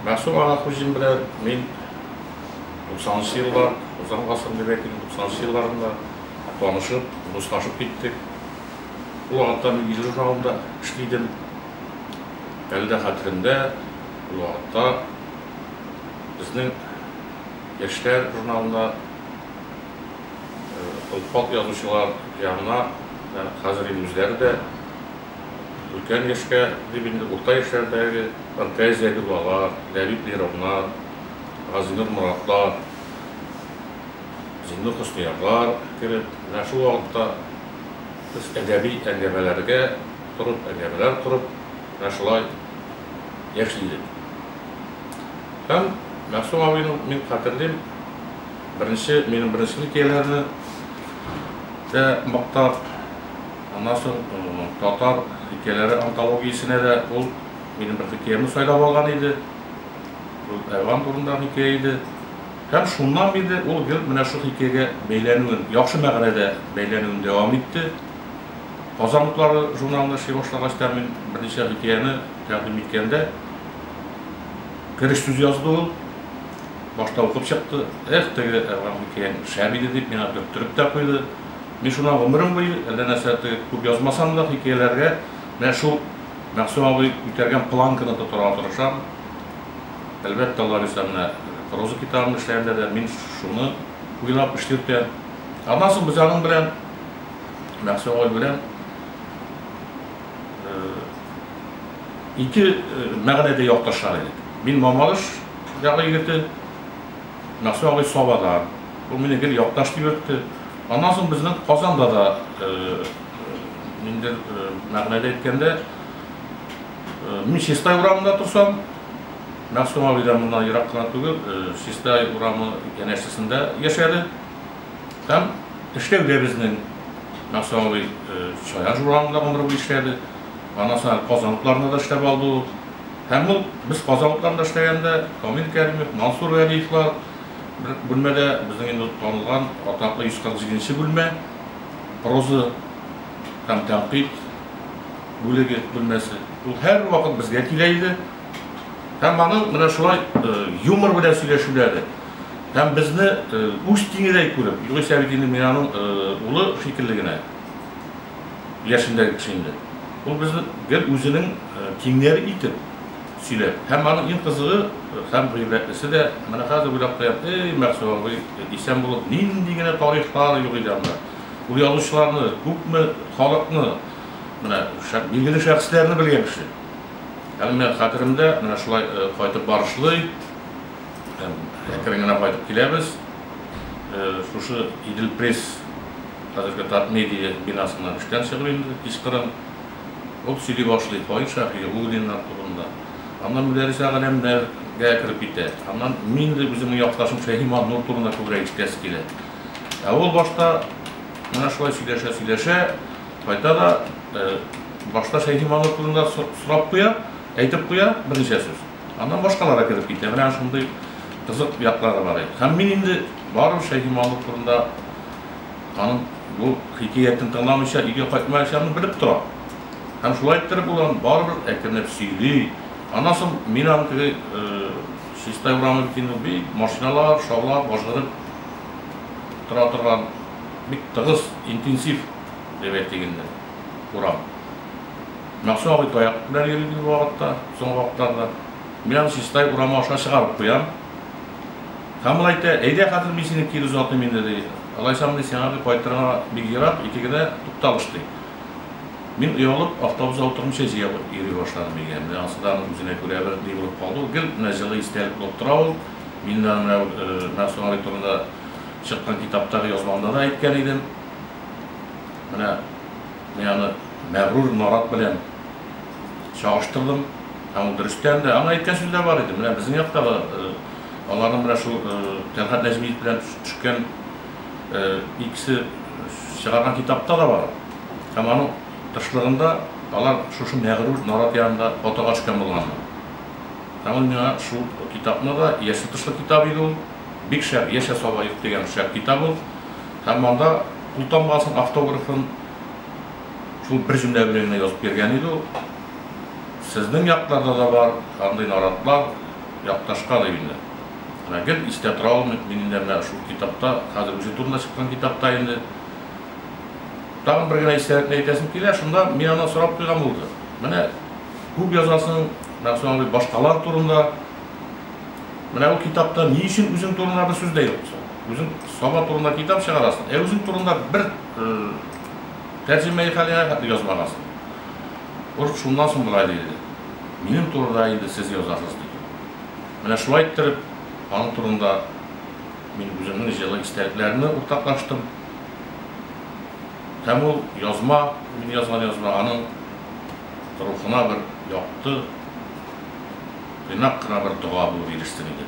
Мәгъсүм Аннахуҗин белән мин туксанынчы еллар, узган гасыр дип әйтик, туксанынчы елларында танышып, дуслашып киттек. Ул вакытта мин Илле журналында эшли идем. Әле дә хәтеремдә, ул вакытта безнең Яшьләр журналында олпат язучылар янына, менә хәзер инде үзләре дә, Өлкән яшькә дип инде урта яшьләрдәге Ркай Зәбиуллалар, Ләбиб Леровнар, Газинур Моратлар, Зиннур Хөсниявлар кереп, менә шул вакытта без әдәби әңгәмәләргә торып, әңгәмәләр корып, менә шулай яши идек. Һәм Мәгъсүм абыйның, мин хәтерлим, беренче, минем беренче хикәяләрне дә мактап, Аннан соң татар хикәяләре антологиясенә дә ул минем бер хикәямне сайлап алган иде. Ул Әван турындагы хикәя иде. Һәм шуннан бирле ул гел менә шул хикәягә бәйләнүен, яхшы мәгънәдә бәйләнүен дәвам итте. Казан утлары журналына эшли башлагач та мин берничә хикәяне тәкъдим иткәндә, кереш сүз язды ул. Башта укып чыкты, Эх, теге Әван хикәяң шәп иде, дип, миңа төрттереп тә куйды. Мин шуннан гомерем буе, әллә нәрсә тоеп, күп язмасам да, хикәяләргә менә шул Мәгъсүм абый күтәргән планканы тотарга тырышам. Әлбәттә, Лариса менә проза китабын эшләгәндә дә мин шуны уйлап эшлиртәм. Аннан соң без аның белән, Мәгъсүм абый белән, ике мәгънәдә якташар идек. Мин Мамадыш ягы егете, Мәхсү абый Сабадан, ул мине гел якташ дип йөртте. Аннан соң безнең Казанда да, ниндидер мәгънәдә әйткәндә, мин Чистай урамында торсам, Мәхсү абый да моннан ерак кына түгел, Чистай урамы янәшәсендә яшәде. Һәм эшләү дә безнең Мәхсү абый Чаян урамында гомер буе эшләде. Аннан соң әле Казан утларында да эшләп алды ул. Һәм ул без Казан утарында эшләгәндә, Камил Кәримов, Мансур Вәлиевлар бер бүлмәдә, безнең инде танылган атаклы 147 нче бүлмә, проза һәм тәнкыйть бүлеге бүлмәсе. Ул һәрвакыт безгә килә иде. Һәм аның менә шулай юмор белән сөйләшүләре һәм безне үз тиңедәй күреп, югыйсә бит инде мин аның улы шикелле генә. яшендәге кеше инде. Ул безне гел үзенең тиңнәре итеп сөйләп һәм аның иң кызыгы һәм гыйбрәтлесе дә, менә хәзер уйлап куям, эй, Мәгъсүр абый исән булып, нинди генә тарихлар юк иде анда. Ул язучыларны, күпме халыкны, менә билгеле шәхесләрне белгән кеше. Әле менә хәтеремдә, менә шулай кайтып барышлый, әкрен генә кайтып киләбез, шушы Идел-Пресс Хәзерге Татмедиа бинасында эштән чыгып инде, кичкырын. Ул сөйли башлый Фаил Шәфигуллиннар турында. Аннан Мөдәррисә галәмнәр гә кереп китә. Аннан мин инде үземнең якташым Шәһиман Нур турында күбрәк ишетәсе килә. Ә ул башта менә шулай сөйләшә-сөйләшә кайта да башта Шәһиман Нур турында сорап куя, әйтеп куя берничә сүз. Аннан башкалар да кереп китә. Менә шундый кызык яклары бар иде. Һәм мин инде барыбер Шәһиман Нур турында Аның бу хикәятен тыңламыйча өйгә кайтмаячагын белеп тора. Һәм шулай иттереп ул аны барыбер әкренләп сөйли. Аннан соң мин аны теге Чистай урамы бит инде ул бик машиналар шаулап, ажгырып тора торган, бик тыгыз, интенсив дип әйтик инде, урам. Мәгъсүм абый таяк белән йөри иде бу вакытта, соңгы вакытларда. Мин аны Чистай урамы аша чыгарып куям. Камыл әйтә, Әйдә, хәзер мин сине кире озатыйм инде, ди. Алайсам, ди, сиңа ди кайтырга бик ерак, итек генә тукталыш, ди. Мин оялып, автобуста утырып чәй җыя йөри башладым өйгә. Менә ансы да аның үзенә күрә бер ни булып калды ул. Гел менә җылы истәлек булып тора ул. Мин дә менә ул Мәгъсүм абый турында чыккан китаптагы язмамда да әйткән идем. Менә мин аны Мәгърур Нарат белән. чагыштырдым. Һәм ул дөрестән дә, аңа әйткән сүз дә бар иде, менә безнең якта да аларның менә шул Тәлгать Нәҗмиев белән төшкән икесе чыгарган китапта да бар. Һәм аның тышлыгында алар шушы мәгърур нарат янында фотога төшкән булганнар. Һәм ул миңа шул китапны да, яшел тышлы китап иде ул, бик шәп, Яшә сабаек дигән шәп китап ул. Һәм анда култамгасын, автографын, Шул бер җөмлә белән генә язып йөргән иде ул. Сезнең якларда да бар андый наратлар, якташка да юньле. Менә гел истә тора ул минемдә менә шул китапта, хәзер үзе турында чыккан китапта инде. Тагын бер генә истәлекне әйтәсем килә, шунда мин аннан сорап куйган булды. Менә күп язасың, Мәгъсүм абый, башкалар турында. Менә бу китапта ни өчен үзең турында бер сүз дә юк соң? Үзең Саба турында китап чыгарасың, ә үзең турында бер Тәрҗемәи хәлеңә хәтле язмагансың. Может, шуннан соң болай диелде, минем турыда инде сез язасыз дип. Менә шулай иттереп, аның турында мин үземнең җылы истәлекләремне уртаклаштым. Һәм ул язма, мин язган язма, аның рухына бер якты, тыйнак кына бер дога булып ирешсен иде.